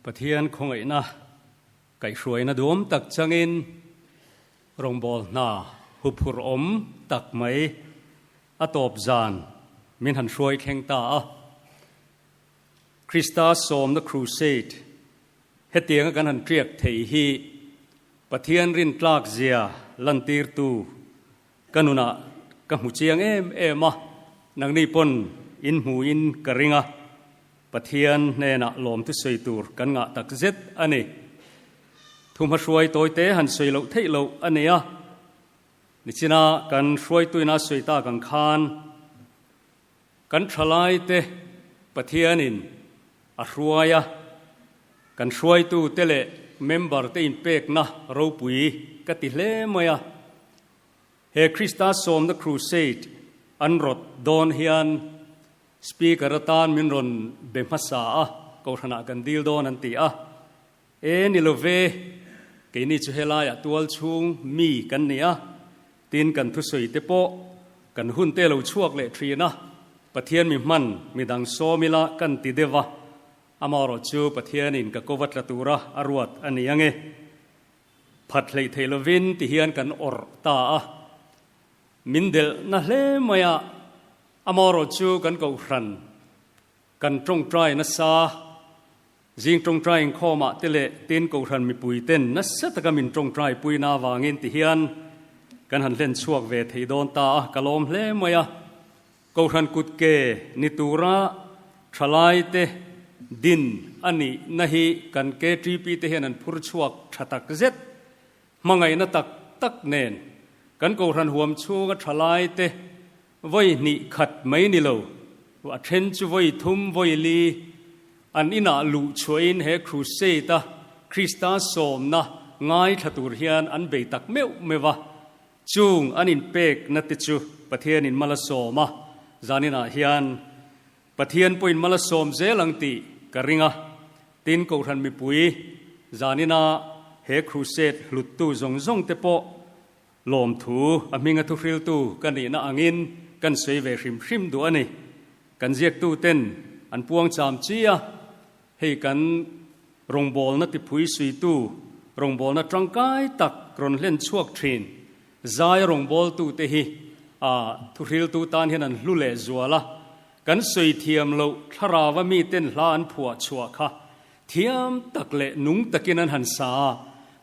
Pathian khongaina kai hruaina duam tak changin rongbol hna huphur om tak mai a tawp zan min han hruai thleng ta a. Krista Sawmna Crusade hetianga kan han ṭiak thei hi Pathian rintlak zia lantirtu ka nunah ka hmu chiang em em a, nangni pawn in hmuin ka ring a, Pathian hnenah lawmtu sawi tur kan ngah tak zet a ni. Thuhmahruai tawite han sawi loh theih loh a nia, nichina kan hruaituina sawi tak ang khan, Kan thalaite Pathianin a hruai a, kan hruaitute leh member-te inpekna ropui ka ti hle mai a. He Krista Sawmna Crusade an rawt dawn hian speaker atan min rawn be hmasa a, kohhranah kan dil dawn an ti a. E ni lo ve, keini chu helaiah tual chhung mi kan ni a, tin kan thusawite pawh kan hun te lo chhuak leh thin a, Pathian mi hman midang sawm ila kan ti deuh a, amarawh chu Pathianin ka ko va tla tura a ruat a ni ange. Phat hleih theih lovin ti hian kan awrh ta a, min delh na hle mai a, amarawh chu kan kohhran, kan tawngtai nasa, Zing tawngtai inkhawmah te leh tin kohhran mipui ten nasa taka min tawngtai puina avangin ti hian kan han hlen chhuak ve thei dawn ta a, ka lawm hle mai a. Kohhran kut ke ni tura thalai te din a nihna hi kan KTP te hian an phur chhuak tha tak zet. Hmangaihna tak tak nen kan kohhran huam chhunga thalai te Vawi hnih khat mai ni lo, a then chu vawi thum, vawi li an inah luh chhuahin he Crusade a Krista sawmna ngaithla tur hian an bei tak meuh meuh a. Chung an inpekna te chu Pathian in mal a sawm a, zaninah hian Pathian pawhin mal a sawm zel ang tih ka ring a. Tin, Kohhran mipui zanina he Crusade hluttu zawng zawng te pawh Lawmthu a hminga thuhriltu ka nihna angin kan sawi ve hrim hrim duh a ni. Kan ziaktuten an puang cham chi a, hei kan rawngbawlna tipui suitu rawngbawlna tangkai tak rawn hlen chhuak thin. Zaia rawngbawltute hi a thuhriltu tan hian an hlu leh zual a, kan sawi thiam loh thlarava miten hla an phuah chhuah kha Thiam tak leh nung takin an han sa a,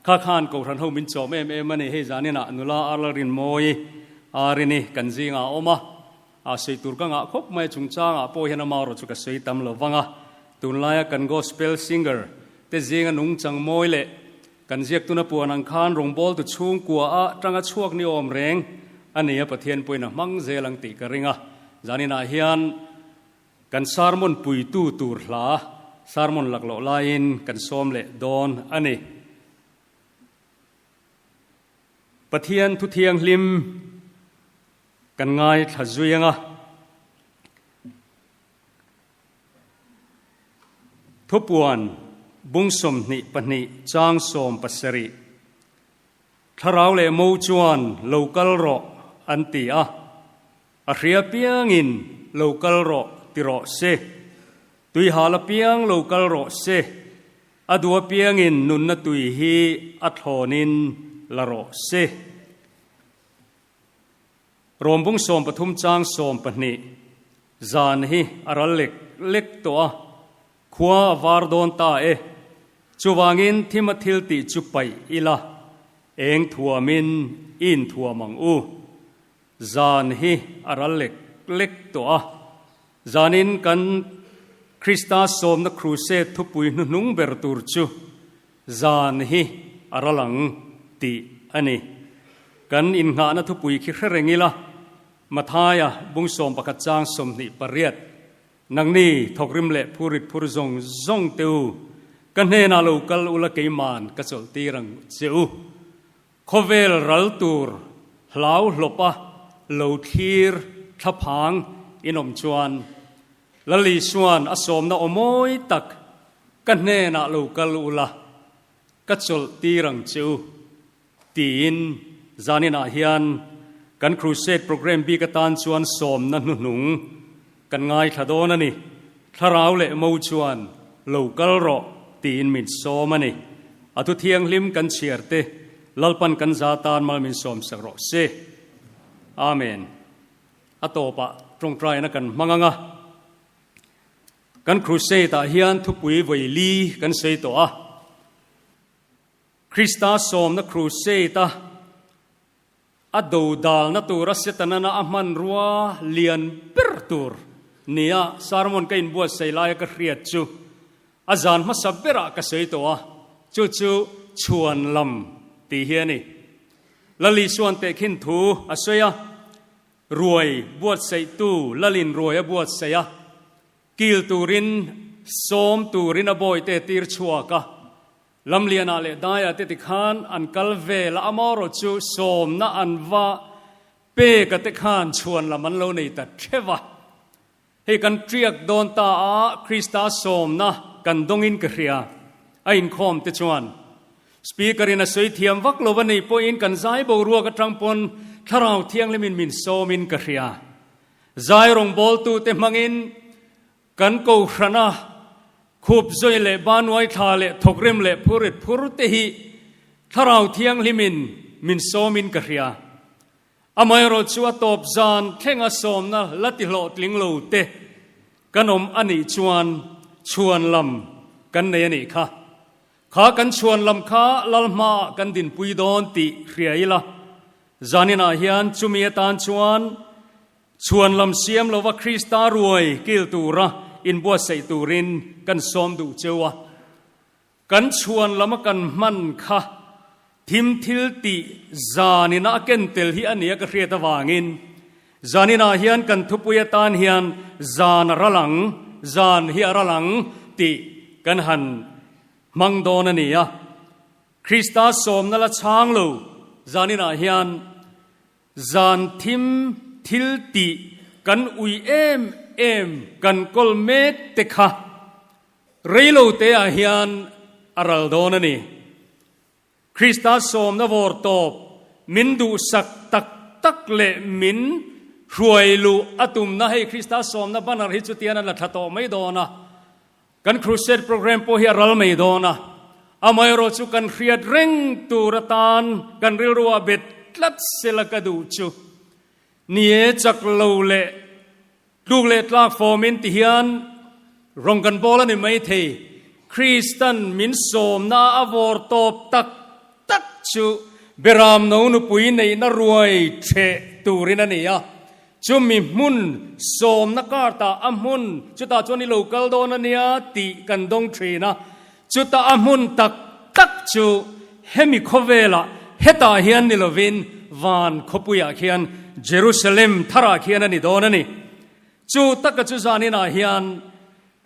kha khan kohhran ho min chawm em em a ni. Hei zan inah nula ar Lalrinmawi a rin i kan zing ah a awm a, a sawi tur ka ngah khawp mai a, chungchang ah pawh hian ama erawh chu ka sawi tam lo vang a. Tun lai a kan Gospel Singer te zing a nung chang mawi leh kan ziaktun a puan ang khan rawngbâwl tu chhungkua a tanga chhuak ni awm reng a ni a, Pathian pawhin a hmang zel ang tih ka ring a. Zan inah hian. Kan sarmon puitu tur hla sarmon laklawh laiin kan sawm leh dawn a ni. Pathian Thu Thianghlim kan ngaithla zuing a, Thupuan bung sawmhnih pahnih chang sawm pasarih thlarau leh mo chuan lo kal rawh an ti a. A hria piangin lo kal rawh ti rawh se, tui hal apiang lo kal rawh se, a duh apiangin nunna tui hi a thlawnin la rawh se. Rawmbung sawm pathum chang sawm pahnih zan hi a ral lek lek tawh a, khua a var dawn ta e. Chuvangin thim a thil tih chu paih ila, eng thuamin inthuam ang u. Zan hi a ral lek lek tawh a, zanin kan Krista sawmna Crusade thupui hnuhnung ber tur chu zan hi a ral ang tih a ni. Kan innghahna thupui khi hre reng ila, Mathaia bung sawm pakhat chang sawmhnih pariat, Nangni thawkrim leh phurrit phur zawng zawng te u, ka hnenah lo kal ula keiman ka chawlhtir ang che u. Khawvel ral tur hlau hlawpa lo thlir thlaphang in awm chuan Lalisuan a sawmna aw mawi tak ka hnenah lo kal ula ka chawlh tir ang chu tiin zaninah hian kan Crusade programme bik atan chuan sawmna hnuhnung Kan ngaithla dawn a ni. Thlarau leh mo chuan lo kal rawh tiin min sawm a ni. A thu thianghlim kan chhiar te, Lalpan kan za tan mal min sawm sak rawh se. Amen. A tawpah tawngtaina kan hmang anga kan Crusade ah hian thupui vaili kan sawi tawh a. Krista sawmna Crusade a. A do dalna tura Setanana a hmanrua lian ber tur nia sermon ka inbuatsaih laia ka hriat chu a zan hmasa berah ka sawi tawh a, chu chu chhuan lam tih hi a ni. Lali chuan tehkhin thu a sawi a, ruai buatsaihtu Lalin ruai a buatsaih a, kil turin sawm turin a bawite tirchhuak a, Lamliana leh Daya te ti khan an kal vel a, amarawh chu sawmna an va pek a te khan chhuan lam an lo nei ta theuh a. Hei kan tiak dawn ta a Krista sawmna kan dawngin ka hria a inkhawm te chuan Speaker in a sawi thiam vak lo va nei pawhin kan zai boruak atang pawn Thlarau Thianghlim in min sawmin ka hria. Zai rawngbawltu te hmangin Kan Kohrana, Khupzoi leh Banuai thla leh Thawkrem leh Phurit phur te hi Thlarau Thianghlim in min sawm in ka hria. Amaherawh chu a tawp zan thleng a sawmna la ti hlawh tling lo te kan awm a nih chuan chhuan lam kan nei a nih kha. Kha kan chhuan lam kha Lalhma ah kan dinpui dawn tih hria ila zanin ah hian chumi atan chuan Chhuan lam siam lova Krista ruai kil tura inbuatsaih turin kan sawm duh cheu a, kan chhuan lama kan hman kha thim thil tih zanin a ken tel hi a nia ka hriat avangin zaninah hian kan thupui atan hian zan a ral ang, zan hi a ral ang tih kan han hmang dawn a nia. Krista sawmna la chhang lo zaninah hian Zan thim, thil tih kan ui em em kan kawl mek te kha rei lo te ah hian a ral dawn a ni. Krista sawmna vawr tawp, min duhsak tak tak leh min hruai luh a tumna hei Krista sawmna banner hi chutian an la tha tawh mai dawn a, Kan Crusade programme pawh hi a ral mai dawn a, amaherawh chu kan hriat reng tur atan kan rilru ah bet tlat sela ka duh chu. Ni e chak lo leh tluk leh tlak fawmin ti hian rawng kan bawl a ni maithei. Kristan min sawmna a vawr tawp tak tak chu Beramno nupui neihna ruai theh turin a ni a. Chumi hmun sawmna kar ta a hmun chuta chuan i lo kal dawn a nia tih kan dawng thin a. Chuta a hmun tak tak chu hemi khawvela hetah hian ni lovin van khawpuiah khian Jerusalem tharah khian a ni dawn a ni. Chu taka chu zaninah hian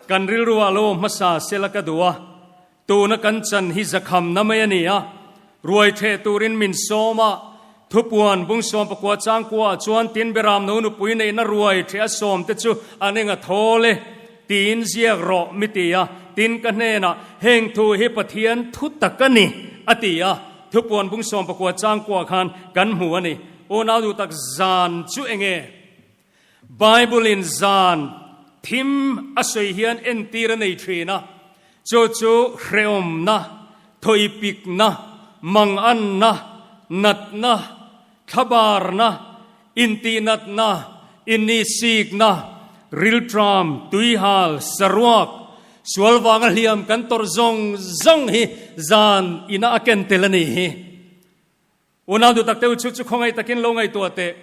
kan rilru a lo hmasa sela ka duh a, Tuna kan chan hi zakhamna mai a ni a, ruaitheh turin min sawm a, Thupuan Bungsawmpakua Changkuaah chuan Tinberam No nupui neihna ruaitheh a sawm te chu an enga thawl e tiin ziak rawh mi ti a, tin ka hnenah heng thu hi Pathian thu tak a ni a ti a, Thupuan Bungsawmpakua Changkuaah khan kan hmu a ni. Unau duhtak zan chu enge? Bible in zan thim a sawi hian entir a nei thin a, chu chu hrehawmna, thawihpikna, manganna, natna, thlabarna, intihnatna, innihsikna, riltram, tuihal, saruak, sual vanga hliam kan tawrh zawng zawng hi zan ina a ken tel a nih hi. Unau Dutaktehu chu chu khawngaih takin lo ngaihtuah teh.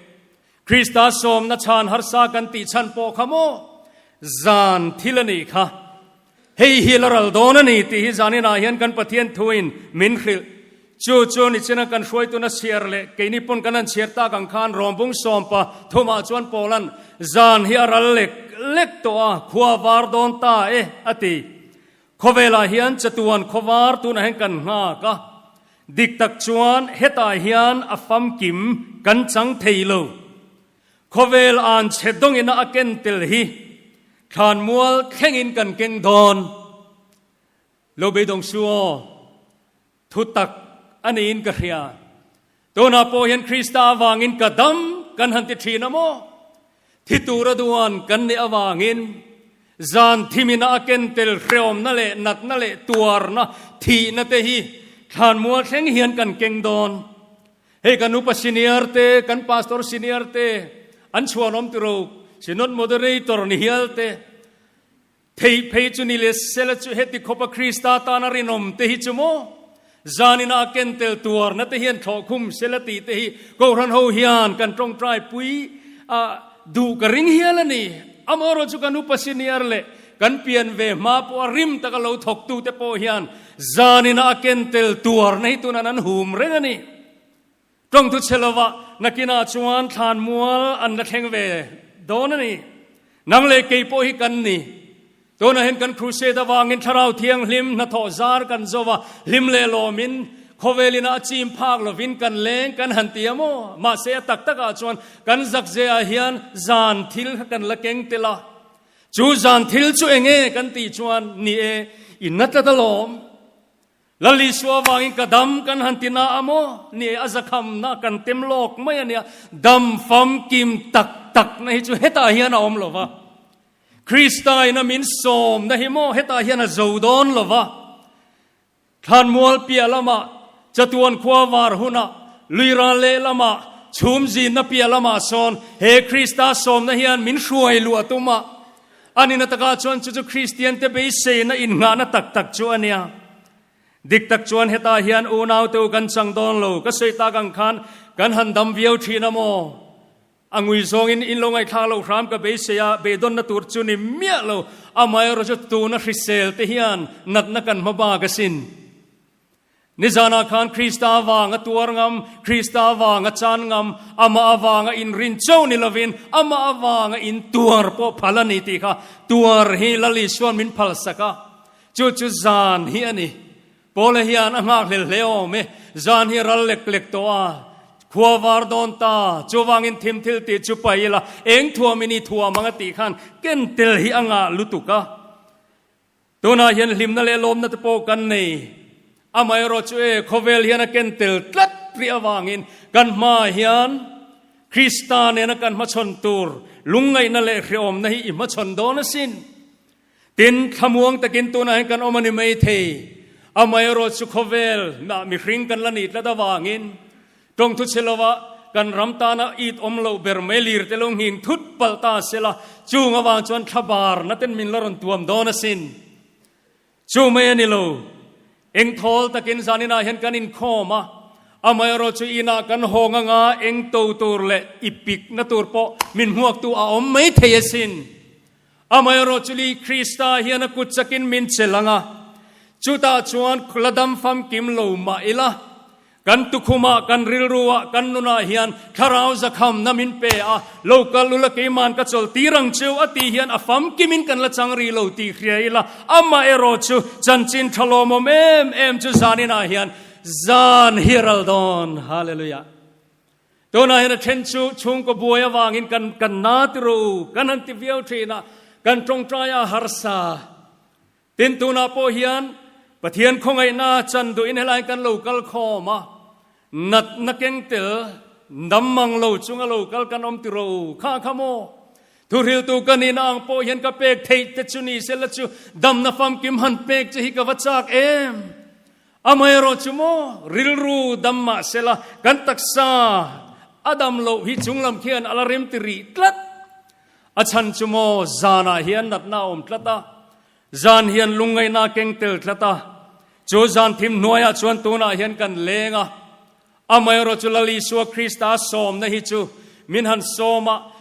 Krista sawmna chhan harsa kan tih chhan pawh kha maw zan thil a nih kha. Hei hi la ral dawn a ni tih hi zanin ah hian kan Pathian thuin min hrilh. Chu chu nichin a kan hruaituna chhiar leh keini pawn kan han chhiar tak ang khan Rawmbung sawmpa thum ah chuan Paula'n zan hi a ral lek lek tawh a, khua var dawn ta e a ti. Khawvelah hian chatuan khawvar tunah hian kan nghak a, dik tak chuan hetah hian a famkim kan chang thei lo. Khawvel an chhe dawngina a ken tel hi thlan mual thlengin kan keng dawn lo beidawng su aw. Thutak a niin ka hria. Tunah pawh hian Krista avangin ka dam kan han ti thin a maw? Thi tura duan kan nih avangin zan thi mina a kentel hreawmna leh natna leh tuarna, thihna te hi thlan mual thleng hian kan keng dawn. Hei kan Upa Senior te, kan Pastor Senior te, an chhuanawm tiro, Synod Moderator, nihial te, Theih phei chu ni le sela chu heti khawpa Krista tana rinawm te hi chu maw zanin a akentel tuarna te hian thlawh khum sela tih te hi Kohhran ho hian kan tawngtai pui a duh ka ring hial a ni. Amaherawh chu kan upa senior leh kan pian ve hma pawh a rim taka lo thawk tu te pawh hian zanin a akentel tuarna hi tunan an hum reng a ni. Tawngtu che lova nakin ah chuan thlan mual an la thleng ve dawn a ni. Nang leh kei pawh hi kan ni. Tunahin kan Crusade avangin Thlarau Thianghlim hnathawh zar kan zo a, hlim leh lawmin, khawvelin a chim phak lovin kan leng kan han ti a maw? Mahse a tak tak ah chuan kan zakzeh ah hian zan thil kha kan la keng tel a. Chu zan thil chu eng nge kan tih chuan, Ni e, i natlat alawm. Lal Isua avangin ka dam kan han ti na a maw? ni a zakhamna kan tem lawk mai a nia. Dam famkim tak takna hi chu hetah hian a awm lova. Kristaina min sawmna hi maw hetah hian a zo dawn lova. Thlanmual piah lama, Chatuan khua var huna, Luira leh lama, chhumzinna piah lama sawn he Krista sawmna hian min hruai luh a tum a. A ni na takah chuan chu chu Kristiante beiseina innghahna tak tak chu a nia. Dik tak chuan hetah hian unaute-u kan chang dawn lo, ka sawi tak ang khan kan han dam viau thin a maw? A ngui zawngin in lo ngaihthlak lo hram ka beisei a, be dawnna tur chu ni miah lo, amaherawhchu tuna hriselte hian natna kan hma bak asin. Nizanah khan Krista avanga tuar ngam, Krista avanga chan ngam, Amah avanga inrin chauh ni lovin Amah avanga intuar pawh phal a ni tih kha tuar hi Lal Isuan min phalsak a. Chu chu zan hi a ni. Paula hian a nghak hlel hle awm e. Zan hi ral lek lek tawh a. Khua var dawn ta, chuvangin thim thil tih chu pai ila, eng thuam i ni thuam ang a tih khan ken tel hi a ngah lutuk a. Tunah hian hlimna leh lawmna te pawh kan nei. Amaherawh chu e, khawvel hian a ken tel tlat rih avangin kan hmaah hian Krista nena kan hmachhawn tur lungngaihna leh hrehawmna hi i hmachhawn dawn asin. Tin, thlamuang takin tunah hian kan awm a ni maithei. Amaherawh chu khawvel ah mihring kan la ni tlat avangin Tawng thu che lova kan ram tana it awm lo ber mai lir te lo nghing thut palh ta a sela, chung avang chuan thla barna ten min la rawn tuam dawn a sin. Chu mai a ni lo. Eng thawl takin zanin ah hian kan inkhawm a, amaherawh chu in ah kan haw nga nga eng to tur leh i pik na tur pawh min hmuak tu a awm mai thei a sin. Amaherawh chu Lee Krista hian a kut chakin min che lang a, chutah chuan khula dam famkim lo mah ila kan tukhumah, kan rilruah, kan nunah hian thlarau zakhamna min pe a, lo kal ula keiman ka chawl tih rang cheu a tih hian a famkimin kan la chang rih lo tih hria ila amaherawh chu chanchin tha lawmawm em em chu zaninah hian zan hi a ral dawn. Hallelujah. Tunah hian a then chu chhungkaw buai avangin kan kan na tiraw u kan han ti viau thin a, kan tawngtai a harsa. Tin, tunah pawh hian Pathian khawngaihna chan duhin helain kan lo kal khawm a, natna keng tel, dam mang lo chunga lo kal kan awm tiraw u? Kha a kha maw? Thuhriltu ka nihna ang pawh hian ka pek theih te chu ni sela chu damna famkim han pek che hi ka va chak em? Amaherawh chu maw, rilru dam mah sela kan taksa a dam loh hi chung lam khian a la remti rih tlat. A chhan chu maw, zanah hian natna a awm tlat a, zan hian lungngaihna a keng tel tlat a, chu zan thim hnuaiah chuan tunah hian kan leng a. Amaherawh chu Lal Isua Krista a sawmna hi chu min han sawm a,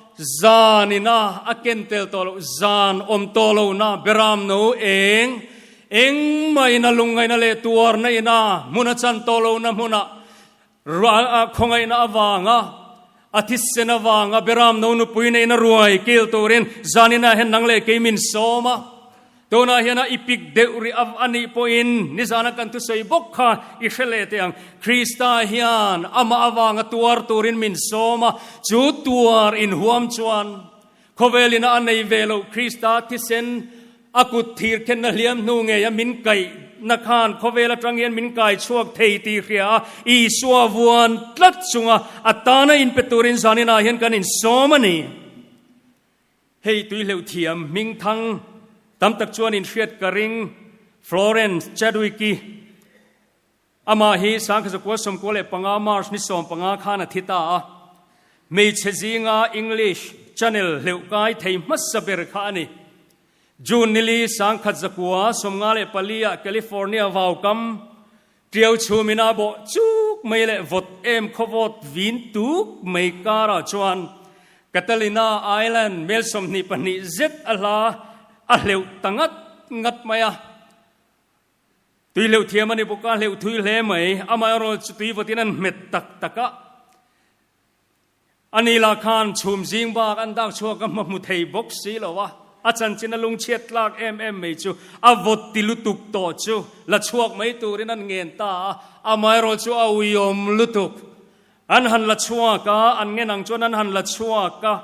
zanin a a ken tel tawh loh, zan awm tawh lohna berram no eng engmahin a lungngaihna leh tuarna ina hmun a chan tawh lohna hmuna ruah a khawngaihna avanga A thisen avanga Beram no nupui nei na ruai kil turin zanin ah hian nang leh kei min sawm a, tunah hian a i pik deuh rih a a nih pawhin nizan a kan thusawi bawk kha i hre leh teh ang. Krista hian amah avanga tuar turin min sawm a, chu tuar in huam chuan Khawvel in a a nei ve lo Krista thisen a kut thir khenna hliam hnu ngei a min kaih na khan khawvel atang hian min kai chhuak thei tih hria a Isua vuan tlat chunga a tana in pe turin zanin ah hian kan in sawm a ni. Hei tui hleuh thiam hming thang tam tak chuan in hriat ka ring Florence Chadwick i Amah hi Sangkhaza kua sawmkua leh panga March ni sawm panga khan a thi ta a, hmeichhe zinga English Channel hleuhkai thei hmasa ber kha a ni. June ni li Sangkhatza kua sawmnga leh paliah California vaukam Tiau chhumin a bawh chuk mai leh vawt em khawvawt vin tuk mai karah chuan Catalina Island mel sawmhnih pahnih zet a hla a hleuh ta ngat ngat mai a. Tui hleuh thiam a ni bawk a, hleuh thui hle mai. Amaherawhlo chu tui vatin an hmet tak tak a. Ani lah khan chhum zing bak an dak chhuak a hma hmu thei bawk si lo a. A chanchin a lung chhiat tlak em em mai chu a vawt ti lutuk tawh chu la chhuak mai turin an ngen ta a. Amaherawhlo chu a ui awm lutuk. An han la chhuak a, an ngen ang chuan an han la chhuak a.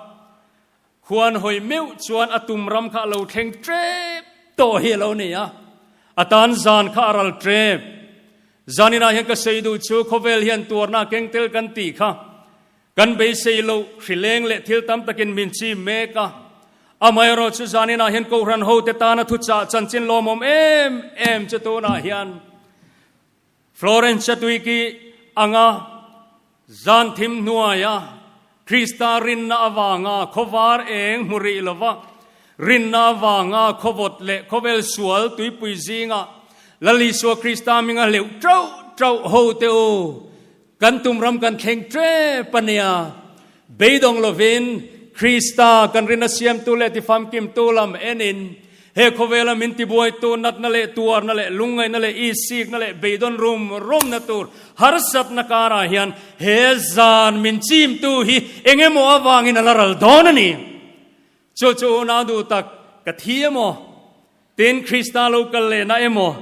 Khuan hawi meuh chuan a tum ram kha a lo thleng ṭep tawh hi a lo nei a, a tan zan kha a ral ṭep. Zanin ah hian ka sawi duh chu khawvel hian tuarna a keng tel kan tih kha kan beisei loh, hri leng leh thil tam takin min chim mek a. Amaherawh chu zanin ah hian kohhran hote tana thuchah chanchin lawmawm em em chu tunah hian Florence Chatuiki anga zan thim hnuaia Krista rinna avanga khawvar eng hmu rih lova rinna avanga khawvawt leh khawvel sual tuipui zinga Lal Isua Krista minga hleuh ṭauh ṭauh ho teh u Kan tum ram kan thleng tep a nia. Beidawng lovin Krista kan rin a siamtu leh tifamkimtu lam en in he khawvela min tibuaitu natna leh tuarna leh lungngaihna leh ihsikna leh beidawn rumrumna tur harsatna karah hian he zan min chimtu hi engemaw avangin a la ral dawn a ni. Chu chu nau duh tak ka thi emaw, tin Krista lo kal lehna emaw,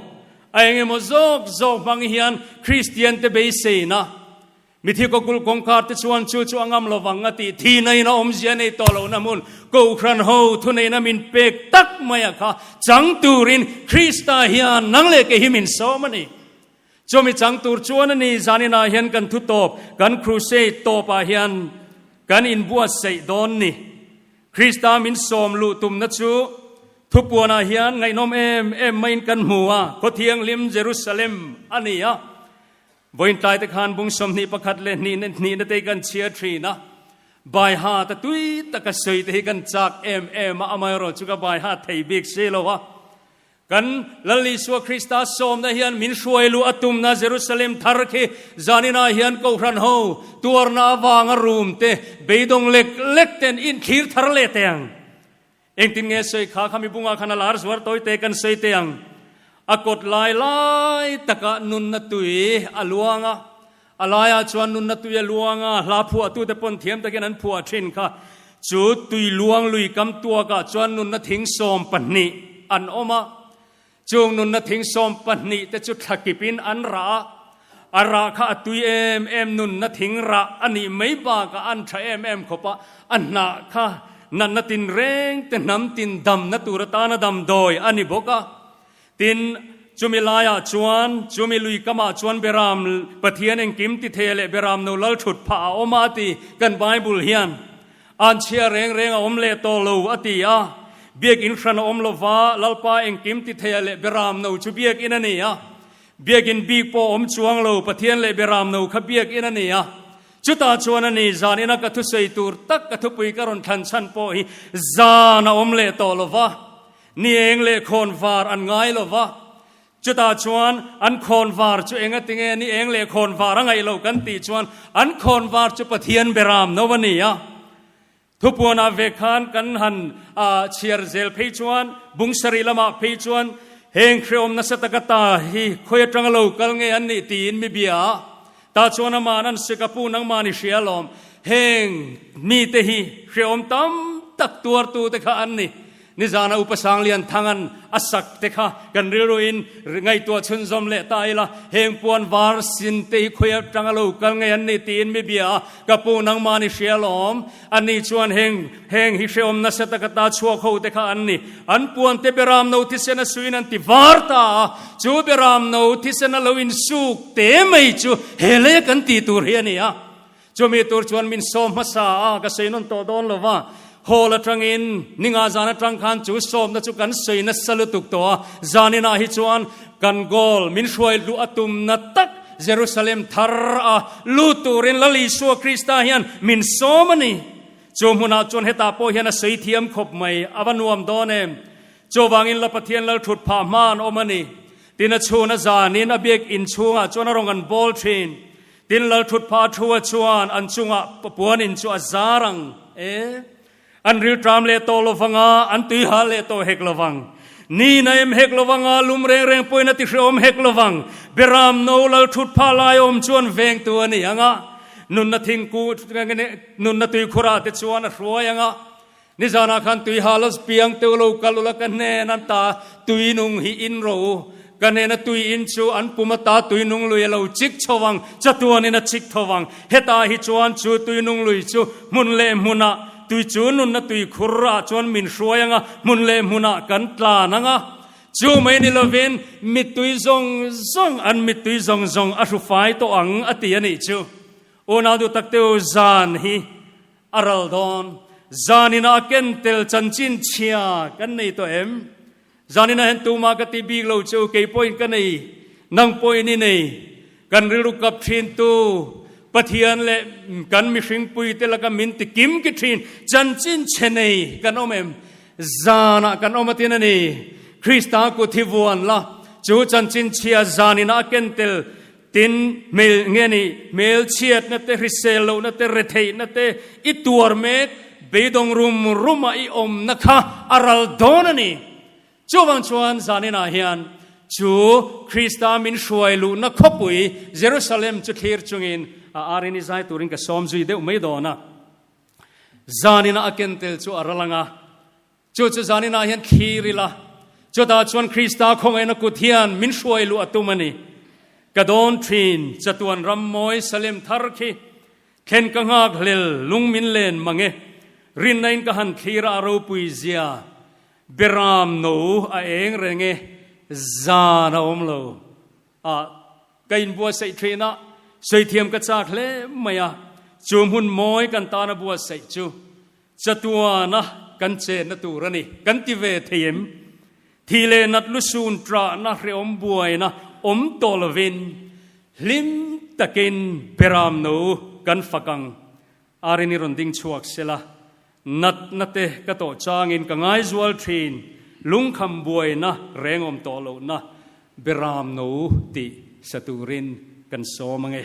a eng emaw zawk zawk hmang hian Kristian te beiseina mithi kawkulh kawngkhar te chuan chu chu a ngam lo vang a tih thi naina awmzia nei tawh lohna hmun Kohhran ho thuneihna min pek tak maia kha chang turin Krista hian nang leh kei hi min sawm a ni. Chumi chang tur chuan a ni zanin ah hian kan thutawp, kan crusade tawp ah hian kan inbuatsaih dawn ni. Krista min sawm luh tumna chu thupuan ah hian ngaihnawm em em maiin kan hmu a, khaw-thianghlim Jerusalem a ni a. Vawiintlaite khan bung sawmhnih pakhat leh hnihnate hi kan chhiar thin a, baihat a tui taka sawite hi kan chak em em a, amaherawhchu ka baihat thei bik si lo a. Kan Lal Isua Krista sawmna hian min hruai luh a tumna Jerusalem thar khi zaninah hian kohhran ho, tuarna avanga rum te, beidawng lek lek ten inthlir thar leh teh ang. Engtin nge sawi kha kha mibunga khan a lar zuar tawi te kan sawi teh ang? A kawt lai lai takah nunna tui a luang a, A laiah chuan nunna tuia luanga hla phuahtute pawn thiam takin an phuah thin kha. Chu tui luang lui kam tuakah chuan nunna thing sawm pahnih an awm a. Chung nunna thing sawm pahnih te chu thla kip in an rah a. A rah kha a tui em em nunna thing rah a nih mai bakah an tha em em khawp a. A hnah kha natna tinreng te hnam tin damna tur atana dam dawi a ni bawk a. Tin, chumi laiah chuan, chumi lui kamah chuan Beram Pathian engkim ti thei a leh Beram no lal thut phah a awm a a ti. Kan Bible hian, An chhia reng reng a awm leh tawh lo a ti a. Biakinn hran a awm lova Lalpa engkim ti thei a leh Beram no chu biakinn a ni a. Biakinn bik pawh a awm chuang lo, Pathian leh Beram no kha biakinn a ni a. Chutah chuan a ni zan in a ka thusawi tur tak ka thupui ka rawn thlan chhan pawh hi zan a awm leh tawh lova. Ni eng leh khawn var an ngai lo va, chutah chuan an khawn var chu enga tinge ni eng leh khawn var a ngaih lo kan tih chuan an khawn var chu Pathian be ram no a ni a. Thupuanah ve khan kan han a chhiar zel phei chuan bung sarih lamah phei chuan heng hreawm nasa taka ta hi khawi atanga lo kal ngei an nih tiin mi bia ah Tah chuan amah nan si ka pu nangmah ni hria lawm. Heng mite hi hreawm tam tak tuartute kha an ni. Nizana Upa Sanglian Thangan a sak te kha kan rilruin ngaihtuah chhunzawm leh ta ila heng puan var sin te hi khawi atang a lo kal ngei an ni tiin mi bia ka pu nangmah ni hria lawm. Ani chuan heng heng hi hrehawm nasa taka ta chhuak ho te kha an ni. An puan te Beram no thisena suiin an ti var ta a. Chu Beram no thisena lo in suk te mai chu he lei a kan ti tur hi a ni a. Chumi tur chuan min sawm hmasa a, ka sawi nawn tawh dawn lo va. Hall atangin ninga zan atang khan chu sawmna chu kan sawi nasa lutuk tawh a. Zaninah hi chuan kan goal min hruai hluh a tumna tak Jerusalem thar a lut turin Lal Isua Krista hian min sawm a ni. Chu hmunah chuan heta pawh hian a sawi thiam khawp mai, a va nuam dawn em? Chuvangin La Pathian lal thut phah hma an awm a ni. Tin a chhun a zanin a biak in chhungah chuan a rawn kan bawl thin. Tin lal thut phah a thu a chuan an chungah puanin chu a zar ang e. An riltram leh tawh lovanga an tuihal leh tawh hek lovang, niin a em hek lovanga lum reng reng pawhin a ti hre awm hek lovang. Biaram no lal thut phah lai awm chuan vengtu a nih ang a, nunna thingkung nunna tuikhura te chuan a hruai ang a. Nizanah khan tuihal a spiang teuh lo kal ula ka hnen an ta, tuinung hi in ro. Ka hnena tui in chu an pum ata tui nung lui alo chik chho vang, chatuan in a chik tho vang. Hetah hi chuan chu tui nung lui chu hmun leh hmun ah tui chu nunna tui khur ah chuan min hruai ang a, hmun leh hmun ah kan tlan ang a. Chu mai ni lovin mittui zawng zawng an mittui zawng zawng a hru fai tawh ang a ti a nih chu. U Nau Duhtakteu zan hi a ral dawn, zanin a a ken tel chanchin chhia kan nei tawh em? Zanin a hen tuma ka ti bik lo chu, kei pawhin ka nei, nang pawhin i nei. Kan rilru kap thintu Pathian leh kan mihring puite laka min ti kim ki thin, chanchin che nei kan awm em? Zanah kan awm atin a ni. Krista kut hi vuan la, chu chanchin chhia zanin a a ken tel. Tin, hmel nge ni? Hmelchhiatna te, hrisel lohna te, retheihna te, i tuar mek beidawng rum rumah i awmna kha a ral dawn a ni. Chuvang chuan zaninah hian chu Krista min hruai luhna khawpui Jerusalem chu thlir chungin a arin i zai turin ka sawm zui deuh mai dawn a. Zaninah a kentel chu a ral ang a, Chu chu zan inah hian thlir ila, chutah chuan Krista khawngaiina kut hian min hruai luh a tum a ni. Ka dawn thin, chatuan ram mawi salem thar khi thlen ka nghak hlel, lung min len mang e, rinna in ka han thlir a, a ropui zia, beram no a eng reng e, zan a awm lo. A, ka inbuatsaih thin a, sawihthiam ka chak hle mai a, chu hmun mawi kan tana buatsaih chu chatuana kan chenna tur a ni kan ti ve thei em? Thi leh nat lu sun trahna hrehawm buaina awm tawh lovin hlim takin Beramnu kan fak ang. Arin i rawn ding chhuak se la, natna te ka tawh changin ka ngaizual thin, lungkham buaina rengawm tawh lohna be ram no tih sa turin kan sawm ange.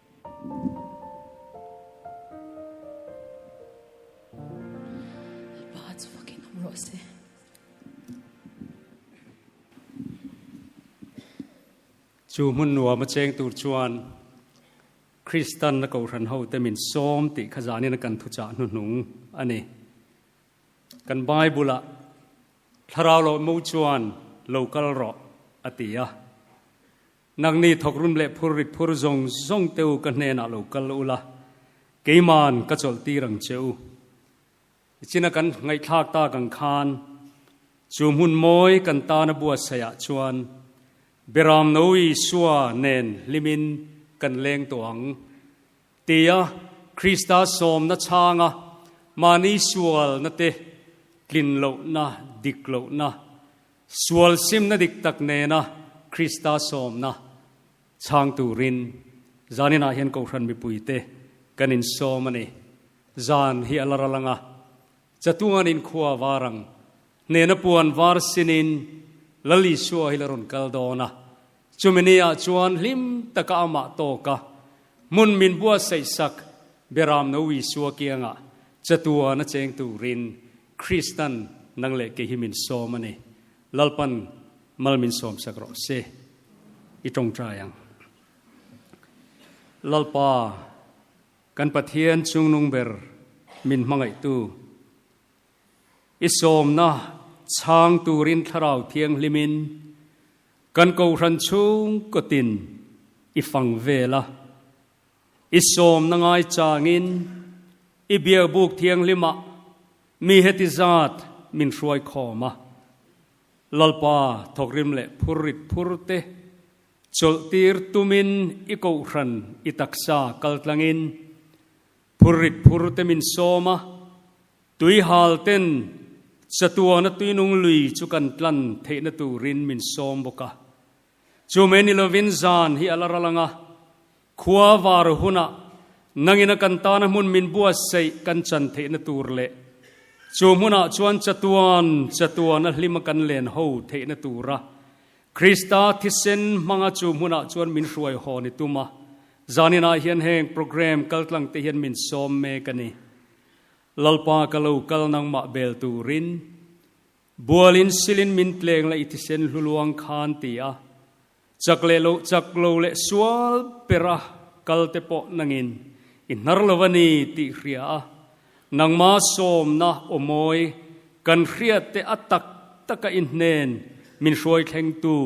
chu hmun nuam a cheng tur chuan Christian na kohhran ho te min sawm tih kha zanin kan thu chah hnu hnung a ni kan Bible a thlarau lo mo chuan local ro a ti a Nak ni thawk rum leh phur rit phur zawng zawng te u ka hnen ah lo kal ula, keiman ka chawlh tir ang che u. I chin a kan ngaihthlak tak ang khan chu hmun mawi kan tan a buatsaih ah chuan Biram no Isua nen hlim in kan leng tawh ang ti a Krista sawmna chhang a mahni sual na te, tlin loh na, dik loh na, Sual simna dik tak nena Krista sawmna chhang turin zanin ah hian Kohhran mipuite kan insawm a ni. Zan hi a la ra lang a, chatuan in khua var ang hnena puan var sinin Lal Isua hi la rawn kal dawn a. Chumi ni ah chuan hlim taka a mah tawk a, hmun min buatsaih sak Beram no Isua kianga chatuan a cheng turin Krista'n nang leh kei hi min sawm a ni. Lalpan mal min sawm sak rawh se. I tawngtai ang. Lalpa, kan Pathian chungnung ber min hmangaihtu. I sawmna chhang turin Thlarau Thianghlimin kan kohhran chhung kawtin I fang vel a. I sawmna ngaichangin I Biabuk Thianghlimah mi heti zat min hruai khawm a, Lalpa thawkrim leh phur rit phur te chawlhtir tumin I kohhran I taksa kaltlangin phur rit phur te min sawm a, Tuihal ten chatuana tuinung lui chu kan tlan theihna turin min sawm bawk a. Chu mai ni lovin zan hi a la ral ang a. Khua var hunah nangin a kan tana hmun min buatsaih kan chan theihna tur leh chu hmunah chuan chatuan chatuan a hlim a kan len ho theihna tura Krista thisen hmanga chu hmunah chuan min hruai haw ni tum a. Zaninah hian heng program kaltlangte hian min sawm mek a ni. Lalpa ka lo kal nangmah bel turin bualin silin min tleng la i thisen hlu luang khan ti a chak leh loh chak lo leh sual ber a kalte pawh nangin i hnar lo a ni tih hria a nangma sawmna aw mawi kan hriatte a tak taka i hnen min hruai thleng tu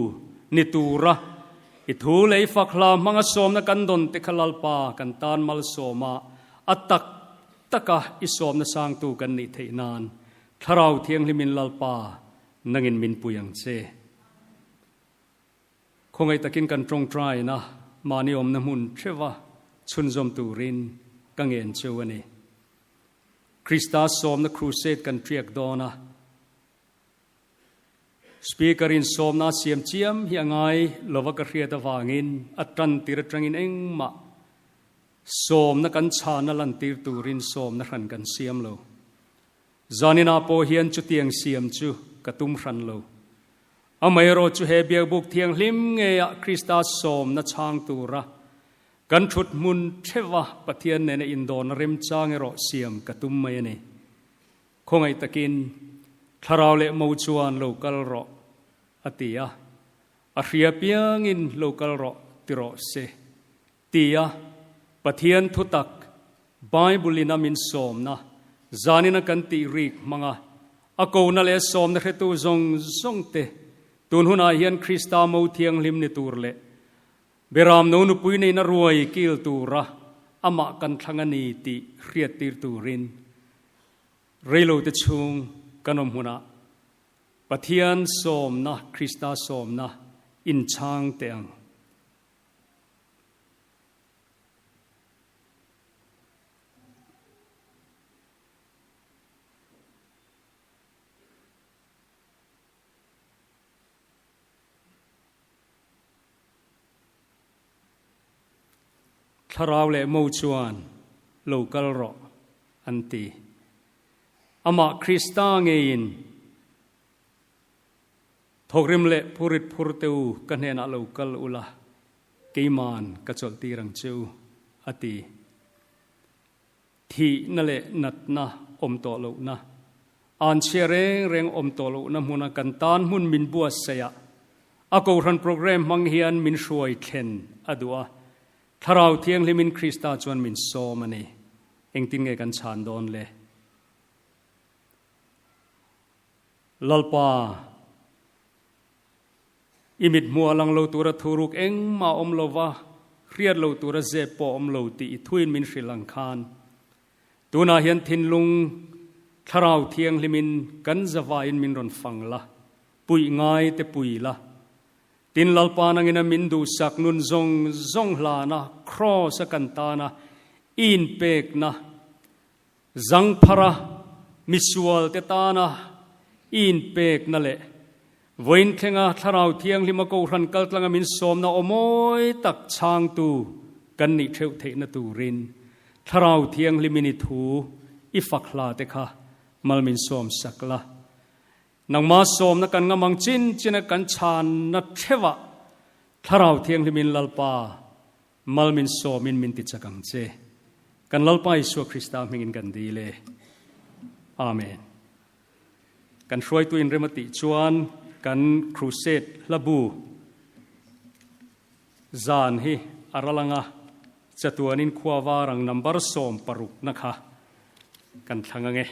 ni tura i thu lei fak hla hmanga sawmna kan dawnte kha Lalpa kan tan malsawma a tak taka i sawmna sangtu kan nih theih nan Thlarau Thianghlimin Lalpa nangin min pui ang che. Khawngaih takin kan tawngtaia na mahni awmna hmun theuha chhunzawm turin ka ngen chu a ni. Krista sawmna crusade kan tiak dawn a. Speaker in sawmna a siam chiam hi a ngai lova ka hriat avangin a tantir atangin engmah sawmna kan chhana lantir turin sawmna hran kan siam lo. Zanina pawh hian chutiang siam chu ka tum hran lo. Amaherawh chu he Biabuk thianghlim ngeiah Krista sawmna chhang tura kan thut hmun theva Pathian nena indawn a remchang erawh siam ka tum mai a ni. Khawngaih takin, Thlarau leh mo chuan lo kal rawh, a ti a. A hria piangin lo kal rawh ti rawh se. Ti a, Pathian thutak, Bible-in a min sawmna, zanin a kan tih rik hmanga, a kona leh sawmna hretu zawng zawngte, tun hunah hian Krista mo thianghlim ni tur leh, Beram no nupui neihna ruai kil tura amah kan thlang a ni tih hriattir turin reilote chhung kan awm hunah Pathian sawmna, Krista sawmna inchhang teh ang. Thlarau leh Mo chuan lo kal rawh an ti. Amah Krista ngeiin thawkrim leh phurit phurte u ka hnenah lo kal ula, keiman ka chawlhtir ang che u, a ti. thihna leh natna awm tawh lohna, an chhia reng reng awm tawh lohna hmuna kan tan hmun min buatsaih a, a Kohhran Programme hmang hian min hruai thlen a duh a, Thlarau Thianghlimin Krista chuan min sawm a ni. Engtin nge kan chhan dawn le? Lalpa I mithmuh a lang lo tura thu ruk engmah a awm lo va, hriat lo tura zep pawh a awm lo tih i thuin min hrilh ang khan. Tunah hian thinlung Thlarau Thianghlimin kan zavaiin min rawn fang la, puih ngai te pui la. Tin Lalpan angina min duhsak nun zawng zawng hlana, Cross a kan tana, Iin pekna, Zangphara misualte tana in pekna leh Vawiinthenga Thlarau Thianglima Kohhran Kaltlanga min sawmna aw mawi tak chhangtu kan nih theuh theihna turin Thlarau Thianghlim in i thu i fak hla te kha mal min sawm sak la. Nangma sawmna kan ngam ang chinchin a kan chhanna theuhah Thlarau Thianghlim in Lalpa Mal min sawm in min ti chak ang che. Kan Lalpa Isua Krista hming in kan dil e. Amen. Kan hruaitu in rem a tih chuan kan crusade hlabu zan hi a ra lang a, chatuan in khua var ang number sawm paruk na kha kan thlang ang e.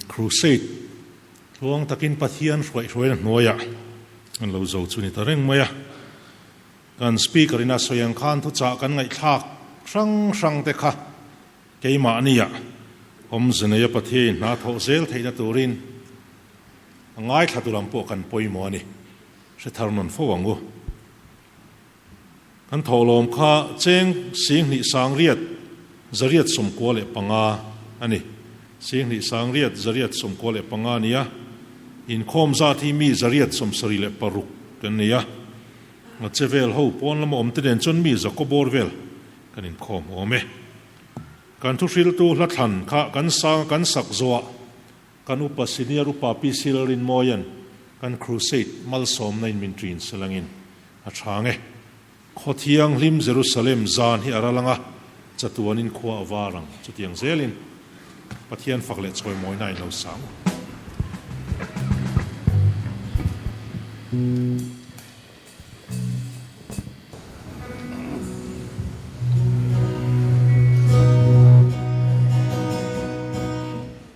Crusade thluang takin Pathian hruaihruaina hnuaiah kan lo zo chu ni ta reng mai a. Kan Speaker ina sawi ang khan thuchah kan ngaihthlak hrang hrangte kha keimahnia awmze neia Pathianin hna thawh zel theihna turin a ngaithla tur ang pawh kan pawimawh a ni. Hrethar nawn fo ang u. Kan thawhlawm kha cheng Sînghnih Sângriat Zariat Sawmkua leh panga a ni. Sînghnih Sângriat Zariat Sawmkua leh panga nia inkhawm zat hi mi Zariat Sawmsarih leh paruk kan nei a. Hmatse vel ho pawn lama awmte nen chuan mi Zakobawr vel kan inkhawm awm e. Kan thuhriltu Hlathlan kha kan sang a kan sak zawh a. Kan upa senior upa PC Lalrinmawia'n kan crusade malsawmna in min tiin sel angin a tha nge. Khaw thianghlim Jerusalem zan hi a ral anga chatuanin khua a var ang. Chutiang zelin Pathian fak leh chawimawina in lo sang u.